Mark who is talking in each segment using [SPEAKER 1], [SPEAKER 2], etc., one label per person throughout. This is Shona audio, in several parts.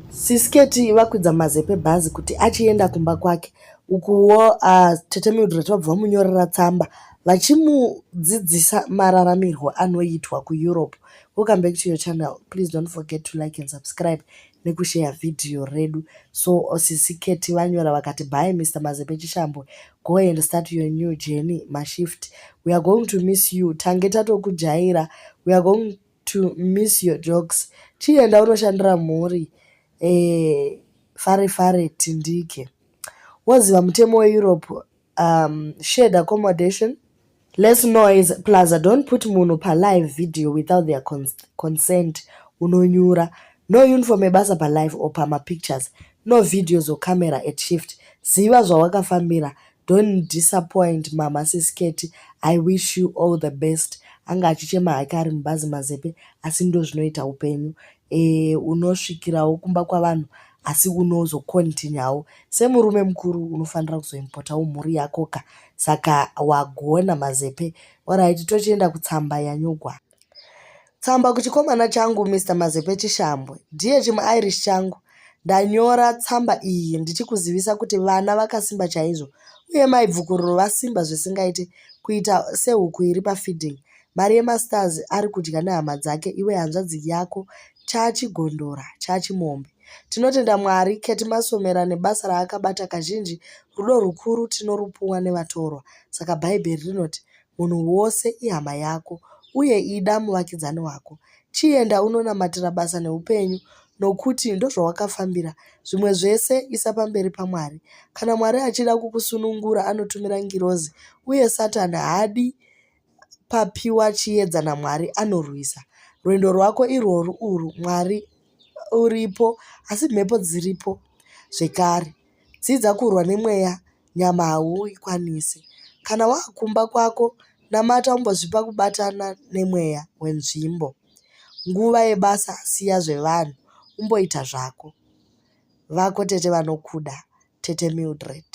[SPEAKER 1] Sisketi vakwidza mazepe bhazi kuti achienda kumba kwake ukuwo uh, tete Mildred vabva vamunyorera tsamba vachimudzidzisa mararamirwo anoitwa kuEurope. Welcome back to your channel. Please don't forget to like and subscribe nekushare video redu. So sisi Keti vanyora vakati bye Mr. Mazepe Chishambwe. Go and start your new journey mashift. We are going to miss you. Tange tatokujaira. We are going to miss your jokes chienda unoshandira mhuri eh, fare fare tindike woziva mutemo weeurope um, shared accommodation less noise plus i don't put munhu palive video without their cons consent unonyura no uniform ebasa palive or pamapictures no videos or camera at shift ziva zvawakafambira Don't disappoint mama sis Ketty I wish you all the best anga achichema hake ari mubhazi mazepe asi ndozvinoita upenyu eh, unosvikirawo kumba kwavanhu asi unozokontinyawo semurume mukuru unofanira kuzoimpotawo mhuri yakoka saka wagona mazepe oraiti tochienda kutsamba yanyogwa Tsamba kuchikomana changu Mr Mazepe Chishambwe. Dear chimuIrish changu, ndanyora tsamba iyi ndichikuzivisa kuti vana vakasimba chaizvo uye mai Bvukururo vasimba zvisingaite kuita sehuku iri pafeeding. Mari yemastars ari kudya nehama dzake iwe hanzvadzi yako chachigondora chachimombe. Tinotenda Mwari Keti Masomera nebasa raakabata kazhinji rudo rukuru tinorupuwa nevatorwa. Saka Bhaibheri rinoti Munhu wose ihama yako uye ida muvakidzani wako. Chienda unonamatira basa neupenyu nokuti ndozvawakafambira. Zvimwe zvese isa pamberi paMwari. Kana Mwari achida kukusunungura anotumira ngirozi uye Satani haadi papiwa chiedza naMwari anorwisa. Rwendo rwako irworwu urwu Mwari uripo asi mhepo dziripo zvekare. Dzidza kurwa nemweya, nyama hauikwanise. Kana wava kumba kwako, namata umbozvipa kubatana nemweya wenzvimbo. Nguva yebasa siya zvevanhu, umboita zvako. Vako tete vanokuda, Tete Mildred.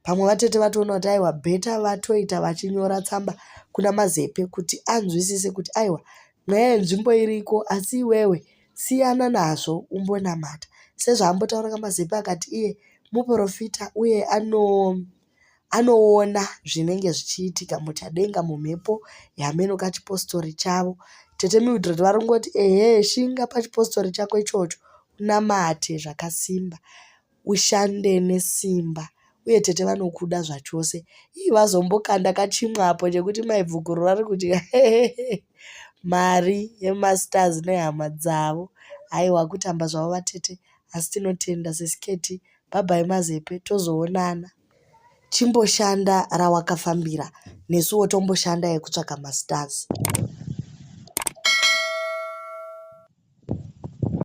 [SPEAKER 1] Pamwe vatete vatoona kuti aiwa bheta vatoita vachinyora tsamba kuna Mazepe kuti anzwisise kuti aiwa mweya yenzvimbo iriko asi iwewe siyana nazvo umbonamata sezvaambotaura kamazepe akati iye muporofita uye ano anoona zvinenge zvichiitika muchadenga mumhepo yameno kachipostori chavo tete mildred vari kungoti ehe shinga pachipostori chako ichocho unamate zvakasimba ushande nesimba uye tete vanokuda zvachose ii vazombokanda kachimwa apo chekuti maibvukuru vari kuti mari yemasters nehama dzavo haiwa kutamba zvavo vatete asi tinotenda sesiketi bhabhai mazepe tozoonana chimboshanda rawakafambira nesuwo tomboshanda yekutsvaka masters